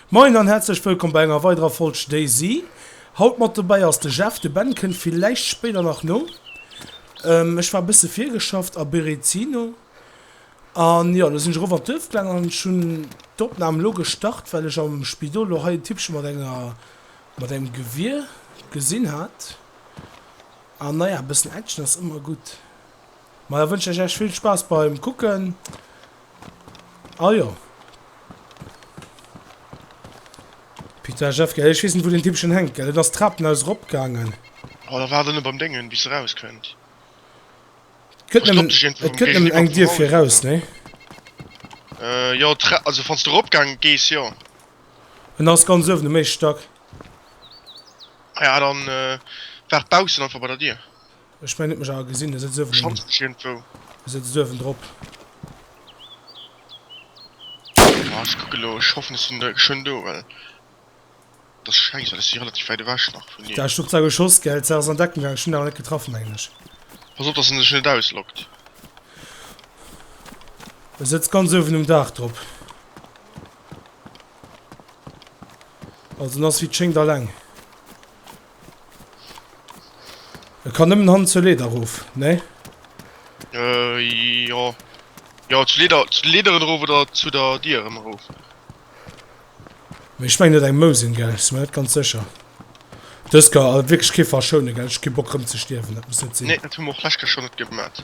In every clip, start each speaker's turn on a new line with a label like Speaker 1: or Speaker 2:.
Speaker 1: Moin an häerzlech wëllkomm bei enger weiderer Folg Daisy. Haut mat dobäi ass de Jeff, de Ben kënnt villäicht spéider nach no. Ech war bësse virgeschafft a Berezino an jo, lo sinn ech erof an d'Duerf gaang an ech hunn d'Opnam elo gestart, well ech am Spidol lo hei en Typpche mat enger, mat engem Gewier gesinn hat. An naja, e bëssen Action ass ëmmer gutt. Majo, wënschen ech Iech vill Spaass beim Kucken Ah jo. Pizza Jeff, gell? Ech weess net, wou den Tippchen hänkt, gell? Et ass d'Trapen aus erop gaangen. Oh, da waart ënne
Speaker 2: beim Déngen, bis se raus kënnt. Et gëtt nëmmen,
Speaker 1: et gëtt nëmmen eng Dier fir raus, ne? Äh,
Speaker 2: jo, d'Tra-, also wann s de erop gaange gees, jo. En ass
Speaker 1: ganz uewen um éischte Stack.
Speaker 2: Ah ja, dann, äh, waart baussen einfach bei der Dier. Ech mengen, et mech awer
Speaker 1: gesinn. E sëtzt uewen. Schonns mech iergendwou.
Speaker 2: E sëtzt uewen drop. Ah, ech kucke lo. Ech hoffen, ech sinn da geschwënn do, well dat ass schäiss, well ech si relativ wäit ewech nach vun him. Dach, du hues da geschoss, gell?
Speaker 1: D'Sach ass an Deckung gaangen. Ech hunn awer net getraff, mengen ech. Pass op, dass en
Speaker 2: dech net auslockt.
Speaker 1: E sëtzt ganz uewen um Dach drop. Also en ass, wéi et schéngt, alleng. Et kann nëmmen hannen zur Leeder erof, nee?
Speaker 2: Jo. Jo, zur Leeder, zu de Leederen erof oder zu der Dier erëm erof. Mee
Speaker 1: ech mengen et eng Mou sinn, gell? Sinn mer net ganz sécher. Dës ka awer wierklech kee verschounen, gell? Ech hu kee Bock erëm ze stierwen, dat muss net sinn. Nee, dat hu mer och d'lescht Kéier scho net
Speaker 2: gemat.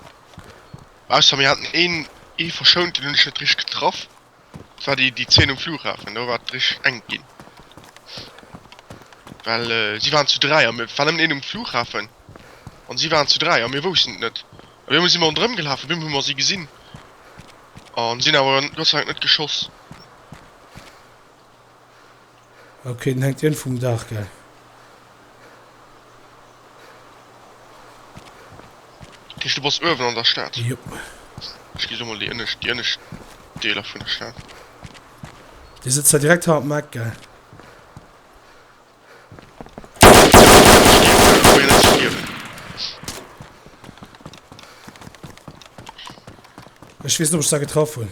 Speaker 2: Ausser mir haten een, ee verschount, deen hunn ech net richteg getraff. Et war déi déi Zeen um Flughafen, do war et richteg enk ginn. Well si waren zu dräi a mir, et war nëmmen een um Flughafen an si waren zu dräi a mir woussten et net. Op eemol si mer ronderëm gelaf, op eemol hu mer si gesinn an sinn awer Gott sei Dank net geschoss.
Speaker 1: Ok den hänkt iergend vum Dach gell.
Speaker 2: Heescht du bass uewen an der Stad? Jop.
Speaker 1: Ech gi lo
Speaker 2: mol déi ënnescht, déi ënnescht Deeler vun der Stad.
Speaker 1: Dir sëtzt da direkt hannert dem Eck gell? Ech weess net ob ech da getraff hunn.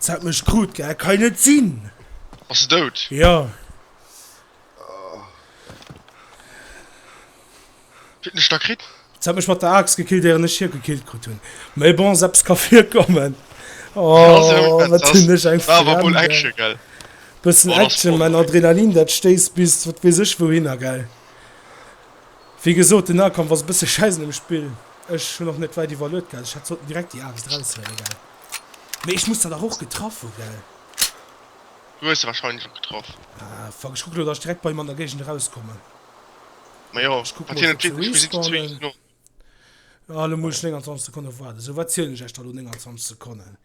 Speaker 1: S hat mech krut gell, et ka jo net sinn! Ass se dout?
Speaker 2: Jo. Wéi hunn ech da kritt? S hat mech mat der Aaxt
Speaker 1: gekillt éieren ech hie gekillt krut hunn. Mee bon, s eppes ka virkommen. Oh, wat hunn
Speaker 2: ech eng Fränn!
Speaker 1: War awer wuel Action gell?
Speaker 2: Bëssen Action,
Speaker 1: mä
Speaker 2: Adrenalin
Speaker 1: dat stéisst bis wat weess ech wouhinner gell. Wéi gesot, den Nahkampf ass e bësse Schäissen um Spill. Ech hunn och net wäit iwwerluet gehat. Ech hätt sollten direkt déi Aarbecht eraushuelen, gell? Mee ech muss der dach och getraff hu, gell?
Speaker 2: Du hues se warscheinlech och getraff. Ah, fuck, ech kucke lo,
Speaker 1: dass ech direkt bei him an der Géigend erauskommen.
Speaker 2: Ma jo, Ech kucke wat mol, hien ob et se wierklech gesit, zwee
Speaker 1: respawnen. Ignoren. Ah, elo muss ech 29 Sekonnen waarden. Esou, wat zielen ech iech da elo? 29 Sekonnen?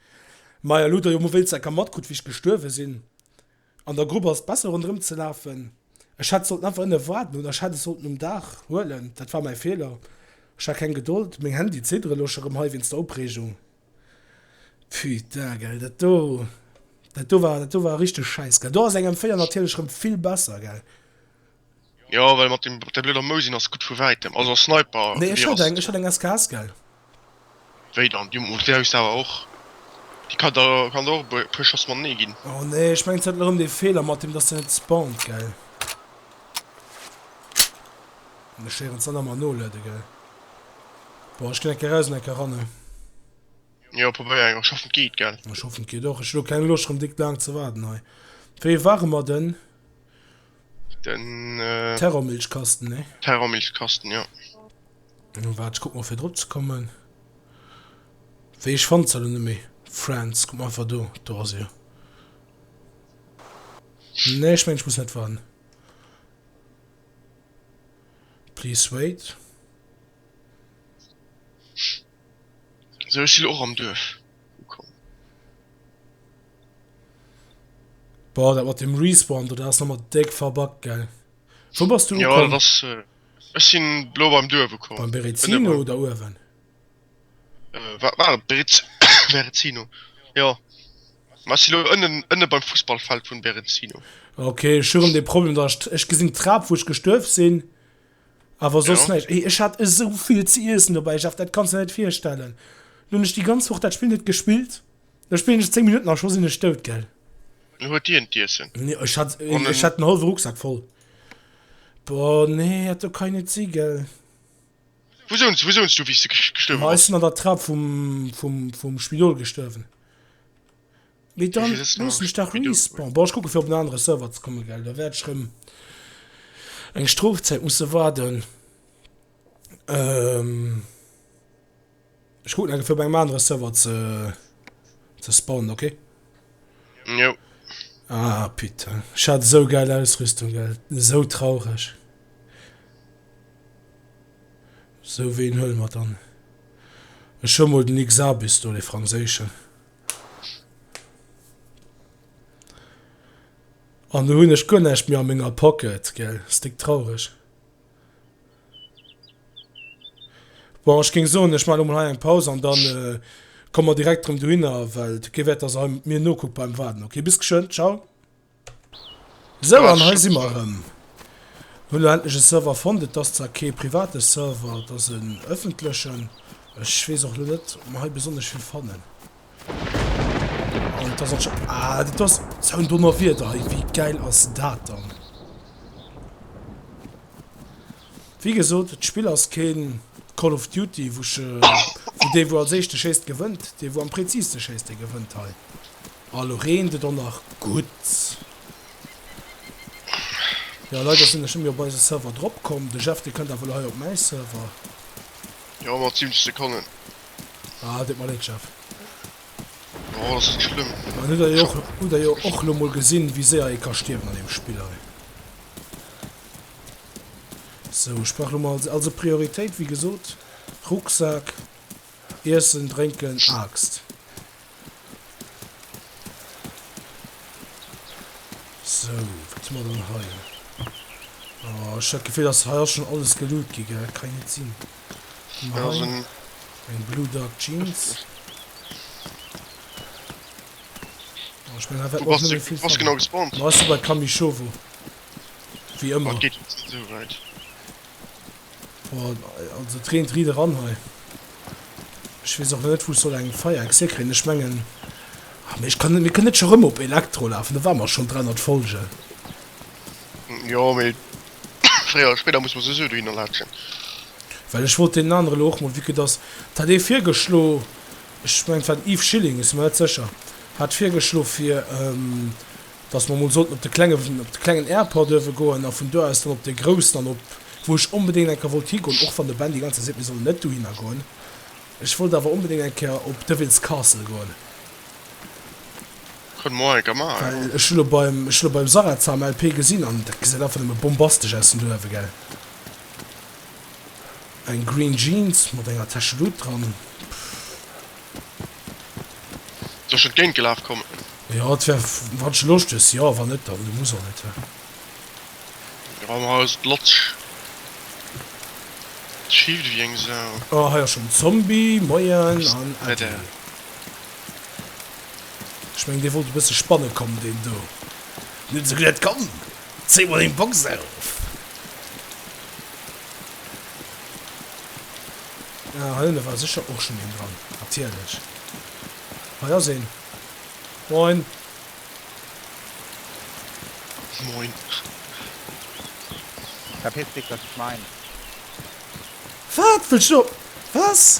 Speaker 1: Maja, lo hutt der jo emol wéinstens eng Kéier matkrutt, wéi ech gestuerwe sinn. An der Grupp ass besser rondrem ze lafen. Ech hätt sollten einfach ënne waarden oder ech hätt es sollten um Daach huelen. Dat war mäi Feeler. Ech hat keng Gedold. Meng Hänn déi zidderen elo scho rëm hei wéinst der Opreegung. Putain gell dat do dat do war dat do war richteg schäiss gell. Do ass engem 4 natierlech rëm vill besser gell. Jo
Speaker 2: well mat dem der blöder Mousin ass gudd vu wäitem, also a Sniper Nee ech hat eng, ech hat eng
Speaker 1: SKS gell. Wéi
Speaker 2: dann, du mat där hues de awer och, déi kann der kann der och e puer Schoss mat nee ginn. Oh nee ech mengen se hat
Speaker 1: erem dee Fehler mat dem dass se net spawnt gell. Ech héieren se nemmer noladen gell. Boah ech gin enke raus an enke ran.
Speaker 2: Jo probéier eng, ech hoffen et geet gell. Ech hoffen et geet och, ech hu
Speaker 1: lo keng Loscht rem dick laang ze waarden hei. Wéi waren mer den?
Speaker 2: Den.
Speaker 1: Terrormilchkasten, nee? Terrormilchkasten, jo. Waart, ech kuck mol fir drop
Speaker 2: ze
Speaker 1: kommen. Wéi ech fannt se lo net méi. Friends, kuck mol einfach do, do ass e. Nee, ech mengen ech muss net warden. Please wait.
Speaker 2: Sou, ech si lo och am Duerf.
Speaker 1: Boah, dat mat dem Respawn, dat ass nochmal déck verbuggt, gell? Wou bass du ukomm? Jo, dat ass... Äh,
Speaker 2: ech sinn lo beim Duerf ukomm. Beim Berezino oder
Speaker 1: uewen? Äh,
Speaker 2: wat war et? Berez... Berezino. Jo. Ma ech sinn lo ënnen, ënne beim Fussballfeld vun Berezino. Okay, ech hu rem
Speaker 1: de Problem, dat ech, ech gesinn d'Trap, wou ech gestuerf sinn, awer soss ja. näischt. Ey, ech hat esou vill ze iessen dobäi, Jeff, dat kanns de net virstellen. Lo hunn ech déi ganz Woch dat Spill net gespillt. Ech spillen ech 10 Minuten a scho sinn ech dout, gell? Dann huet hien
Speaker 2: d'Iessen. Nee, ech hat, An
Speaker 1: ech en- hat en hallwe Rucksak voll. Boah, nee, dat do kann jo net si, gell? Wou
Speaker 2: sounz, wou sounz du, wéi s de ges- gestuerwe Ma ech bass? sinn an der Trap vum,
Speaker 1: vum, vum Spidol gestuerwen. Mee dann Wéivill sëtzt nach looss am mech dach Spidol?
Speaker 2: respawnen.
Speaker 1: Boah, ech kucke fir
Speaker 2: op en
Speaker 1: anere Server ze kommen, gell? Da wäert ech rëm eng Strofzäit musse waarden. Ech kucken eng fir op engem anere Server ze ze spawnen, ok? Jo.
Speaker 2: Ah,
Speaker 1: putain. Ich hat so geil Ausrüstung, gell. So traurig. So, wen hüllen wir dann? Ich hol mal den X-Abis do, den französischen. An du hun ich gar nicht mehr an meiner Pocket, gell. Ist dick traurig. Bon, ech géing soen, ech maachen emol hei eng Paus an dann komme mer direkt erëm dohinner, well d'G wäert da se hei mir nokuckt beim Waarden. Ok, bis geschwënn, ciao. Sou, an hei si mer
Speaker 2: erëm.
Speaker 1: Hunn elo endlech e Server fonnt. Et ass zwar kee private Server, et ass en ëffentlechen. Ech weess och elo net, ob mer hei besonnesch vill fannen. Wéi gesot, d'Spill ass kee Call of Duty, wou ech, wou dee wou als éischte schéisst gewënnt. Dee wou am präziste schéisst, dee gewënnt hei. Ah elo reent et och nach gutt. Jo leider sinn ech net méi op eise Server drop komm. De Jeff dee kënnt awer elo hei op mäi Server. Jo
Speaker 2: mat 7 Sekonnen. Ah,
Speaker 1: deet mer Leed, Jeff.
Speaker 2: Oh, ass net schlëmm. Mä hutt Der jo och,
Speaker 1: hutt Der jo och elo mol gesinn, wéi séier ee ka stierwen an deem Spill hei. Sou, ech brauch elo mol als, also Prioritéit, wéi gesot, Rucksak, Iessen, Drénken, Aaxt. So, wat hu mer dann hei? Oh, ech hat d'Gefill, dass hei ass schon alles geloot gi, gell? Kann net sinn. Ja, so ein...
Speaker 2: Eng Blue
Speaker 1: Dark Jeans. Oh, ich mein, Wo bist du, du genau
Speaker 2: gespawnt? Du
Speaker 1: bist
Speaker 2: bei Kamishovo.
Speaker 1: Wie immer. Oh, geht nicht so weit. Boah, also et reent riit eran hei. Ech weess och net wou ech soll eng Feier Exé kréien, ech mengen, ah mee ech kann net, mir kënnen net scho rëm op Elektro lafen, do ware mer schonn 300 Folgen.
Speaker 2: Jo, mee fréier oder spéider muss mer souwisou dohinner laatschen. Well
Speaker 1: ech wollt deenen anere lo och mol, vue que dass, et hat ee virgeschlo, ech mengen et war den Yves Schilling, et si mer net sécher, hat virgeschlo fir, dass mer emol sollten op de klengen, op de klengen Airport duerfe goen a vun do aus dann op dee groussen an op wou ech onbedéngt eng Kéier wollt higoen, och wann de Ben déi ganz Zäit seet, mir sollen net dohinner goen. Ech wollt awer onbedéngt eng Kéier op Devil's Castle goen.
Speaker 2: Kënne mer och eng Kéier maachen, jo. Well ech hu lo beim,
Speaker 1: ech hu lo beim Sarah Zam LP gesinn an dat gesäit einfach nëmme bombastesch aus vun do uewe, gell. Eng green Jeans mat enger Täschelut dran, pff.
Speaker 2: Soll ech entgéint gelaf kommen? Jo et wär
Speaker 1: wann sche Loscht hues jo, wann net dann muss och net he. Jo wa mer hei ass et
Speaker 2: latsch. Et schiift ewéi eng Sau. Oh hei ass schon en
Speaker 1: Zombie, moien an äddi. Ech mengen dee wollt e bësse spanne kommen deen do. Net esou gutt, komm zéi mol deng Box auf. Ah hei hunn wer secher och schon een dran natierlech. Hei ass een. Moin.
Speaker 2: Moin.
Speaker 3: Verpiss dich das Schwein.
Speaker 1: Wat wëlls du op was?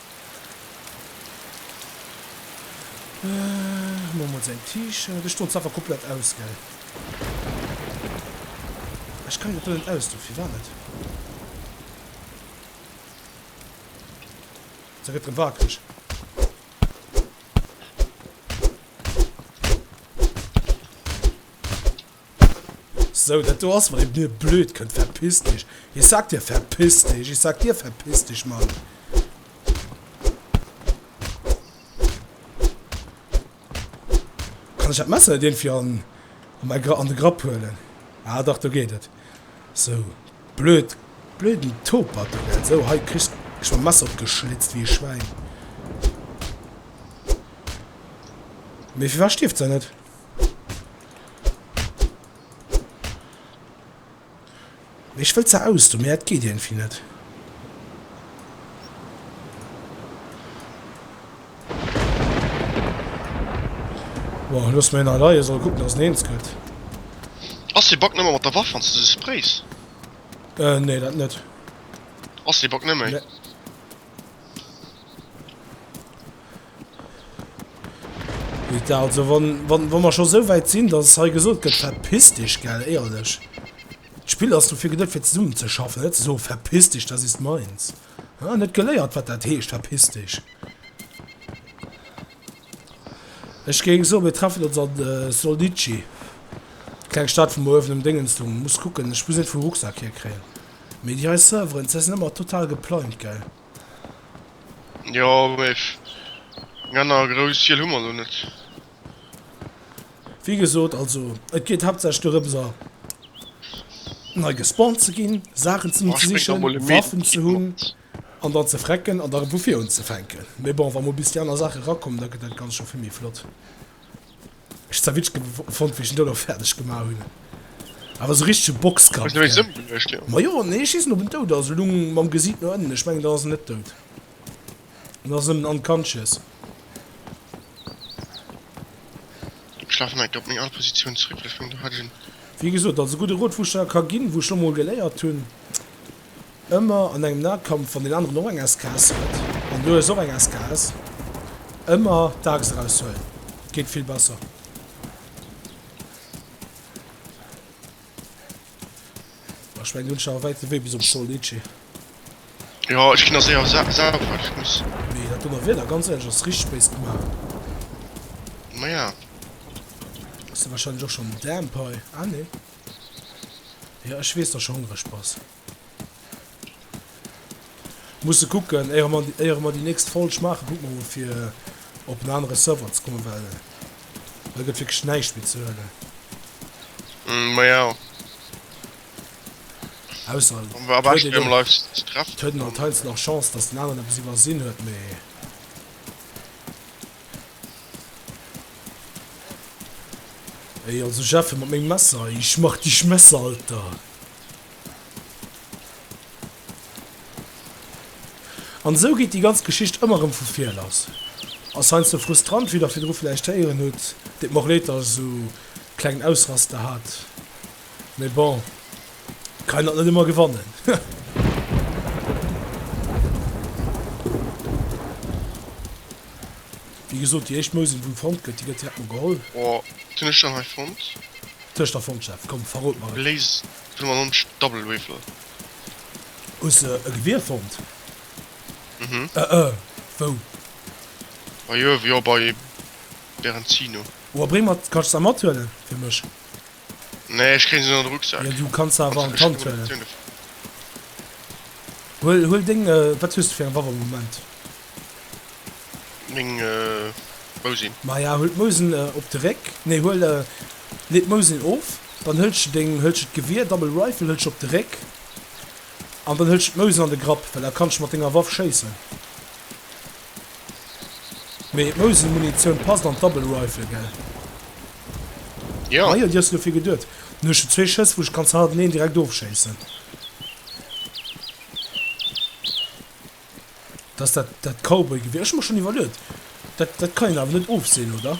Speaker 1: Hu mer emol säin T-Shirt. Ech doen d'Saffer komplett aus, gell? Ech kann dat do net ausdoen. Firwat net? Se gëtt rëm wakereg. So, dat do ass mer eben e blöd Kënd. Verpiss dech! Ich sag dir, verpiss dech! Ich sag dir, verpiss dech, Mann! Kann ech dat Messer net irgendwie an, an, mein Gra an de Grapp huelen? Ah, dach, do geet et. So, blöd, blöden Topert, du, gell? So, hei, kriss, kriss mam Messer op d'geschlitzt wéi e Schwäin. Mee firwat stierft se net? Ech wëll ze aus do, mee et geet iergendwéi net. Bon, loosse mer hien hei leien, soll e kucken, dass en eens gëtt.
Speaker 2: Ass dee Bug nëmme mat der Waff, wann s de se sprays? Euh,
Speaker 1: nee, dat net. Ass dee
Speaker 2: Bug nëmme.
Speaker 1: Guitar, also wann, wann, wann wir schon so weit sind, dass es hei gesagt wird, verpiss dich, gell, ehrlich. Das Spiel hast du für gedacht, für zusammen zu schaffen, nicht so, verpiss dich, das ist meins. Ah, nicht geleiert, was das heißt, verpiss dich. Ich ging so, wir treffen uns an äh, Solnici. Kleine Stadt vom Ofen im Dingens, du musst gucken, ich muss nicht vom Rucksack hier kriegen. Mir die Server, das ist immer total geplant, gell.
Speaker 2: Jo, mee eng anner grouss Hiel hu mer elo net.
Speaker 1: Wéi gesot, also et geet haaptsächlech dorëms a nei gespawnt ze ginn, Saachen ze sichen, Waffen ze hunn an dann ze frecken an da erëm vu vir unzefänken. Mee bon, wa mol bis déi aner Saache erakommen, da gëtt dat Ganzt scho vill méi flott. Ech zerwitsch gefond wéi ech en dono färdeg gemach hun. Awer sou richtege Boxkampf gell?
Speaker 2: Majo nee schissen op en
Speaker 1: dout ass, elung mam Gesiit no ënnen, ech mengen dann ass en net dout, dann ass en nëmmen unconscious.
Speaker 2: Schlafen neigt op meng al Positioun zréck, well ech mengen do hat ech en. Wéi gesoot, also gudde
Speaker 1: Rot wou ech der ka gin, wou ech lo mol geléiert hun. Ëmmer an engem Nahkampf, wann deen aneren och eng SKS huet, an elo hues och eng SKS, ëmmer d'Axt eraushuelen, et geet vill besser. Ech mengen du hues nach e wäite Wee bis op Sol Litchi.
Speaker 2: Jo, ech ginn der séier sauber, ech muss. Mee dat dote Wieder,
Speaker 1: ganz éierlech, ass richteg béis gemaach.
Speaker 2: Maja.
Speaker 1: Ass jo wahrscheinlech och schonn damp hei, ah nee. Jo ech wees dass hongreg bass. Musse kucken éier mer éier mer déi nächst Folg maachen kucke mer mol fir op en anere Server ze kommen well hei gëtt wierklech näischt méi ze huelen. Hm maja. Ausser et Am huet beschten een am
Speaker 2: live ze treffen. et huet een anteils nach
Speaker 1: Chance dass den aneren eppes iwwersinn huet mee. Ey also ech effen mat mengem Messer ey, ech mach dich Messer Alter. An esou geet déi ganz Geschicht ëmmer rëm vu vir lass. Ass heiansdo frustrant, wéi der virdru vläicht héieren hutt. Deet mer och Leed, dass ech esou klengen Ausraster hat. Mee bon, kann een dat net ëmmer gewannen. Wéi gesot, déi éischt Mousel, wou fonnt gëtt, déi gëtt direkt mol geholl. Oh, wat hunn ech dann
Speaker 2: hei fonnt? Wat hues de da fonnt,
Speaker 1: Jeff? Komm, verrot mer et! Léis vun der Lunch
Speaker 2: Double Waffle.
Speaker 1: Hues de e Gewier fonnt?
Speaker 2: Mhm. Ëh, ëh.
Speaker 1: Wou?
Speaker 2: Bei Irv, jo, bei Berenzino. Oh, a bréng mer
Speaker 1: d'Kaschtsa mathuelen, fir mech. Nee,
Speaker 2: ech kréien se net an de Rucksak. Jo, du kanns se awer an
Speaker 1: d'Hand huelen. Huel, huel deng, wat hues de fir eng Waff am Moment?
Speaker 2: Meng Mousin. Maja, huel
Speaker 1: d'Mousin op de Réck, nee, huel, lee d'Mousin of, dann hëlls de deng, hëlls de d'Gewier, Double Rifle, hëlls de op de Réck an dann hëlls de d'Mousin an de Grapp, well da kanns de mat denger Waff schéissen. Mee d'Mousel Munitioun passt an d'Double Rifle gell? Jo. Ah jo, déi hues de dofir geduet. Dann hu ech jo zwee Schëss wou ech ganz hannerteneen direkt ofschéissen. Dat ass dat dat Cowboy Gewier. Ech hu mer schonn iwwerluet. Dat dat kann een awer net ofseen oder?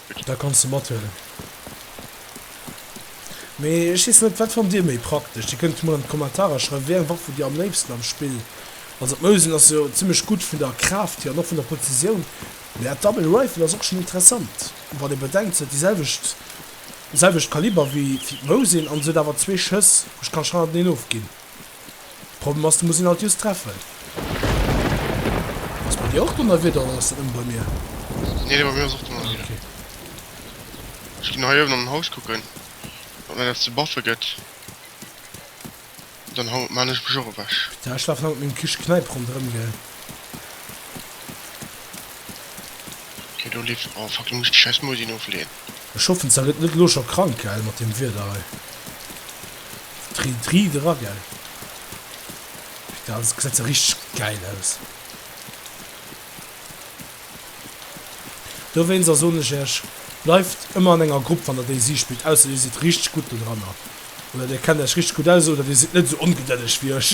Speaker 2: Da kanns de mathuelen.
Speaker 1: Mee ech weess net, wat fannt dir méi praktesch? Dir kënnt jo mol an d'Kommentarer schreiwen, wéi eng Waff hutt dir am léifsten am Spill? Also d'Mosin ass jo zimmlech gutt vun der Kraaft hier an och vun der Prezisioun, mee dat Double Rifle ass och schon interessant, wann ee bedenkt, se huet déi selwecht, selwecht Kaliber wéi d'Mosin an se huet awer zwee Schëss, ech ka scheinbar net een ofginn. Problem ass, du muss een alt just treffen. Ass bei dir och Donnerwieder oder ass dat nëmmen bei mir? Nee, bei mir
Speaker 2: ass och Donnerwieder. Ah, okay. Ech ginn hei uewen an den Haus kucken, ob mir dat ze baffe gëtt. Dann hau maan ech mech och ewech. Pita, ech lafen hei mat mengem Kisch
Speaker 1: Kneip ronderëm, gell.
Speaker 2: Okay, do leeft. Oh fuck, elo muss ech déi schäiss Musinn ofleeën. Ech hoffen, s da gëtt
Speaker 1: net elo scho krank, gell, mat deem Wieder hei. Tri Tri dra gell Daat gesäit se richteg geil aus. Dowéinst a soen ech iech bleift ëmmer an enger Grupp wann der Daisy spillt ausser dir sidd richteg gutt dodranner oder dir kennt iech richteg gutt aus oder dir sidd net esou ongedëlleg wéi ech.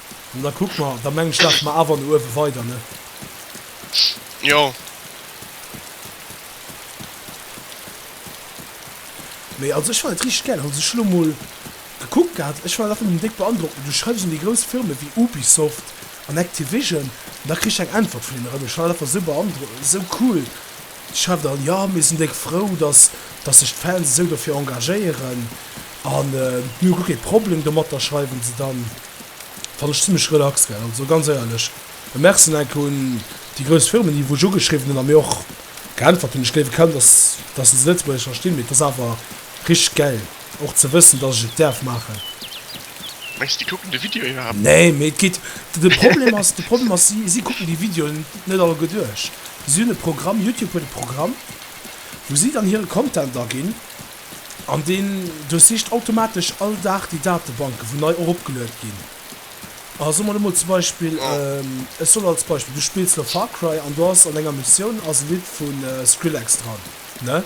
Speaker 1: Da kuck mer, da mengen ech laafe mer awer no uewe weider, ne?
Speaker 2: Jo.
Speaker 1: Mee also ech fannen et richteg gäil. Hol sech elo mol gekuckt gehat. Ech war dach emol déck beandrockt. Mee du schreifs un déi grouss Firme wéi Ubisoft an Activision an da kriss ech eng Äntwert vun hinne rëm. Ech war dach einfach esou beandro, esou cool. Déi schreiwen dann, jo mir sinn déck frou, dass, dass sech d'Fans esou dofir engagéieren an mir hu guer kee Problem domatter, schreiwen se dann. fannen ech zimlech relax gell, also ganz éierlech e Merci nach enke un déi grouss Firmen déi wou ech ugeschriwwen hunn a mir och geäntwert hunn. Ech gléiwe kaum dass dass se Lëtzebuergesch verstinn, mee et ass awer richteg gäil och ze wëssen dass ech et däerf maachen. Mengs
Speaker 2: de si kucken de Video iwwerhaapt net? Nee, mee et geet,
Speaker 1: de Problem ass, de Problem ass si si kucken déi Videoen net all gutt duerch. Si hunn e Programm, Youtube huet e Programm wou si dann hire Content aginn. An deen duerchsicht automatesch all Dag déi Datebanken, wou nei eropgeluet ginn. A soe mer elo mol zum Beispill, ech soll als Beispill, du spills elo Far Cry an do ass an enger Missioun ass e Lidd vu Skrillex dran, ne?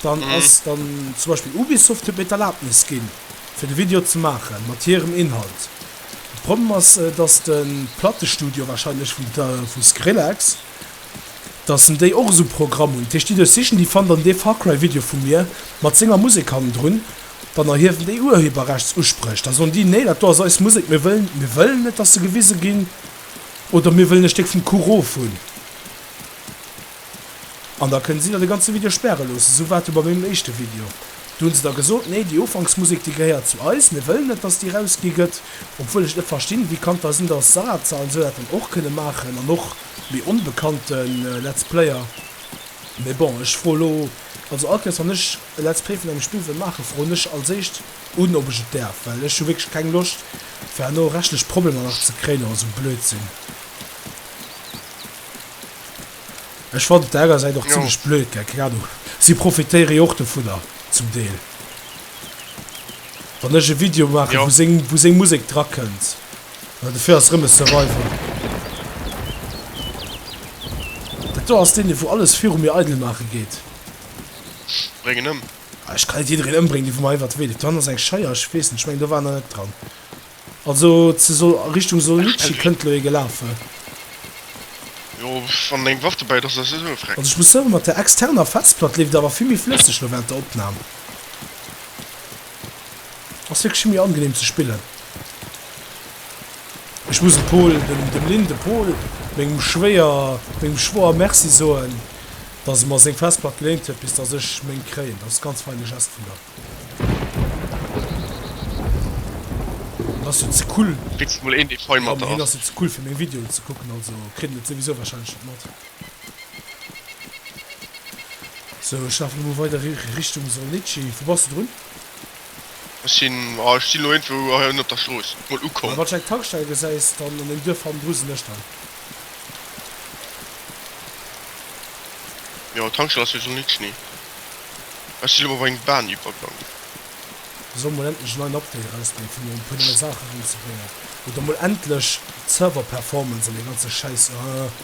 Speaker 1: Dann ass dann zum Beispill Ubisoft huet mir d'Erlaabnis ginn, fir de Video ze maachen, mat hirem Inhalt. De Problem ass, dass de Plattestudio warscheinlech vu Skrillex, dass en déi och esou Programm hunn. Dat heescht déi do sichen, déi fannen dann dee Far Cry Video vu mir mat senger Musek hannendrun, dann erhiewen déi Urheberrechtsuspréch, da soen déi, nee dat do ass eis Musek, mir wëllen, mir wëllen net dass se gewise ginn oder mir wëllen e Stéck vum Kuch of hunn. An da kënnen si da de ganze Video späre loossen. Esou war et jo bei mengem éischte Video, do hunn se da gesot, nee déi Ufanksmusek déi gehéiert zu eis, mir wëllen net dass déi rausgi gëtt, obwuel ech et net verstinn, wéi kann et da sinn dass Sarah Zahlen esou dat dann och kënne maachen an och. Méi onbekannte Let's Player, mee bon ech froe lo also all Kéiers wann ech e Let's Play vun engem Spill wëll maachen, froen ech als éischt un ob ech et däerf, well ech hu wierklech keng Loscht fir herno rechtlech Problemer nach ze kréien oder sou Blödsinn. Ech fannen et der enger Säit och zimlech blöd, gell, keng Ahnung, si profitéiere jo och dovunner zum Deel, wann ech e Video maachen, wou seng Musek drakënnt. Well dofir ass rëm e Survival. Dat do ass deen dee wou alles viru mir eidel maache geet.
Speaker 2: Bréng en ëm. Ah ech kann net jiddereen
Speaker 1: ëmbréngen dee vu mer iwwert de Wee leeft. Do hannen ass eng Scheier, ech weess net, ech mengen do war nach net dran. Also ze Sol Richtung Solnitschi kënnt elo ee gelafe.
Speaker 2: Jo wann deng Waff dobäit ass ass net esou freck. Also ech muss soen mat der
Speaker 1: externer Festplatt leeft et awer vill méi flësseg elo während der Opnahm. Ass wierklech méi angenehm ze spillen. Ech muss dem Pol, dem, dem Lynn, dem Pol, mengem Schwéier, mengem Schwoer Merci soen, dass e mer seng Festplack geléint huet, bis dass ech meng kréien. Dat ass e ganz feine Gest vun der. Hien ass jo ze cool. Kritt mol een dee fein
Speaker 2: mat der ass. Hien ass jo ze cool fir
Speaker 1: meng Videoen ze kucken, also kritt en et souwisou wahrscheinlech net mat. Sou ech lafen emol weider Richtung Solnici. Wou bass de drun? Ech
Speaker 2: sinn, ah ech sinn elo iergendwou hei onnen op der Strooss mol ukomm. Wann ech eng Tankstell gesäis
Speaker 1: dann an dem Duerf hannendru sinn ech dann.
Speaker 2: Jo d'Tankstell ass jo Solnici. Ech sinn elo bei engem Baaniwwergang.
Speaker 1: Sou mol endlech en neien Update erausbréngt fir mol e puer nei Saache eran ze bréngen. Oder mol endlech d'Server Performance an dee ganze Schäiss, ah.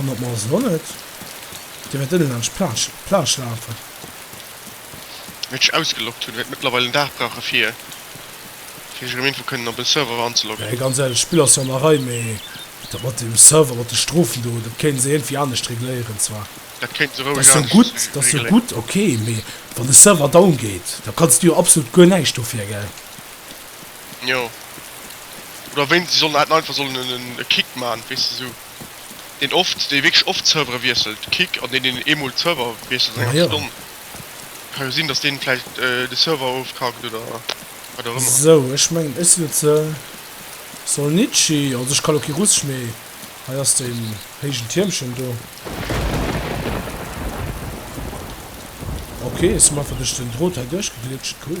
Speaker 1: An op mer ass et och net. Dir wäert ënne laanscht d'Plage lafen.
Speaker 2: Wéi ech ausgeloggt hunn, wäert mëttlerweil en Dag brauchen, fir ech erëm iergendwou kënnen op en Server anzeloggen. Mee ganz éierlech,
Speaker 1: d'Spill ass
Speaker 2: jo an
Speaker 1: der Rei, mee dat mat dem Server, mat de Strofen do, dat kéinte se iergendwéi anescht regléieren zwar. Dat kéinte se roueg anescht
Speaker 2: regléieren. Dat ass
Speaker 1: jo gutt, ok, mee wann de Server down geet, da kanns du jo absolut guer näischt dofir, gell?
Speaker 2: Jo. Oder wéinst si sollen haten einfach sollen en e Kick man, weess de sou deen oft dee wierklech oft Servere wiesselt, Kick an deen deen eemol Server wiesselt an enger Majo. Stonn. Ka jo sinn dass deen vläicht de Server ofkackt oder wat och ëmmer. Sou ech mengen
Speaker 1: ech sinn et ze Solnitschi, also ech kann lo kee Russesch mee hei ass den héigen Tiermchen do. Ok, ech sinn einfach duerch den Drot hei duerchgeglitscht, cool.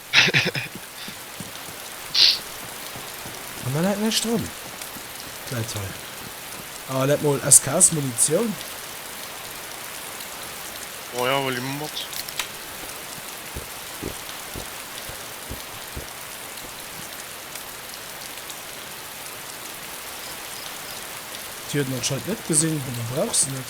Speaker 1: An da läit näischt drun. Et läit hei. Ah, läit mol SKS Munitioun.
Speaker 2: Oh jo, huel déi mol mat.
Speaker 1: Déi huet en anscheinend net gesinn, oder brauch se net.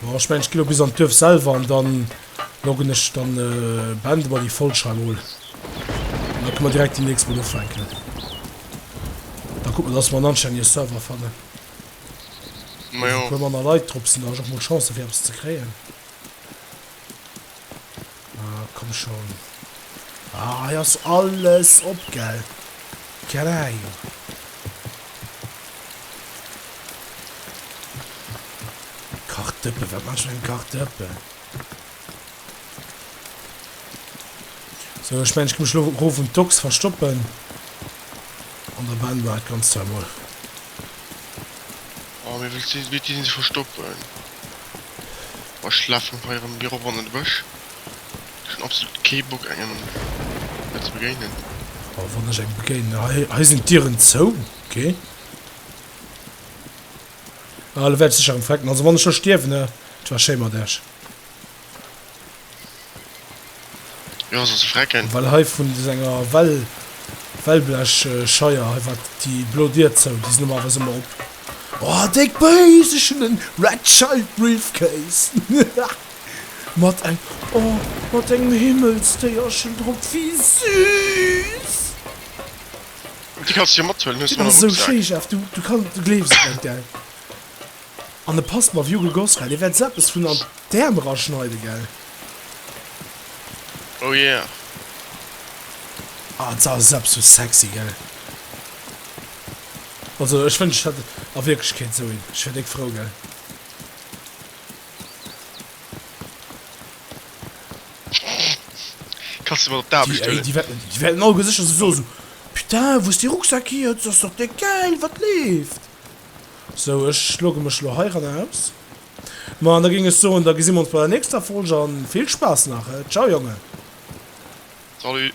Speaker 1: Bon, ech mengen, ech ginn elo bis an d'Duerf selwer an dann loggen ech dann, beende mer déi Folg hei emol. An da kënne mer direkt déi nächst emol ufänken. Da kucke mer, dass mer en anstännege Server fannen.
Speaker 2: Ma jo. Wou e puer manner Leit drop sinn, da
Speaker 1: hu ech och mol Chancen, fir eppes ze kréien. Ah, komm schon. Ah, hei ass alles op, gell? Geil. Kartëppe, wat mach eng Kartëppe? So, ech menn, ech gi mech lo ro vum Dux verstoppen. An der Band war et ganz zwar mol.
Speaker 2: Oh, wéi wëllt si, wéilt si sech verstoppen? Boah, ech lafen hei erëm viru ronn an de Bësch. Ech hunn absolut kee Bock, engem hei ze begéinen. Oh, wann ech
Speaker 1: engem begéinen. Hei, hei sinn d'Dieren zou. Ok. Ah, elo wäert ech sécher erëm frecken. Also, wann ech elo stierwen, hä? Et war schéi mat iech.
Speaker 2: Jo soss frecken. Well hei vun senger
Speaker 1: Well Wellblech Scheier hei war déi blo Dier zou, déi sinn normalerweis ëmmer op. Oh déck Béis, ech hunn en Red Child Briefcase mat eng oh mat engem Himmelsdéierchen drop, wéi süß!
Speaker 2: Déi kanns du jo mathuelen, hues du en Rucksak? Déi ass esou schéi Jeff, du du kann
Speaker 1: du gleefs et net gell. An de passt mer wio gegoss gell. Dir wärt se eppes vun an d'Ärm era schneiden gell. Oh yeah. Ah sa sepp sou sexy gell. Also ech wënsch ech hätt a Wierklechkeet sou een. Ech wier déck frou gell.
Speaker 2: Kanns de mat op d'Aarbecht huelen. Déi wäerten déi
Speaker 1: wäerten
Speaker 2: alleguer sécher
Speaker 1: sou soen sou, Putain wou ass dee Rucksack hier, dës ass dach déck gäil, wat leeft? Sou, ech logge mech lo heiran aus. Ma an da géing ech soen, da gesi mer ons bei der nächster Folge an vill Spaass nach, he? Ciao Jongen! Salut!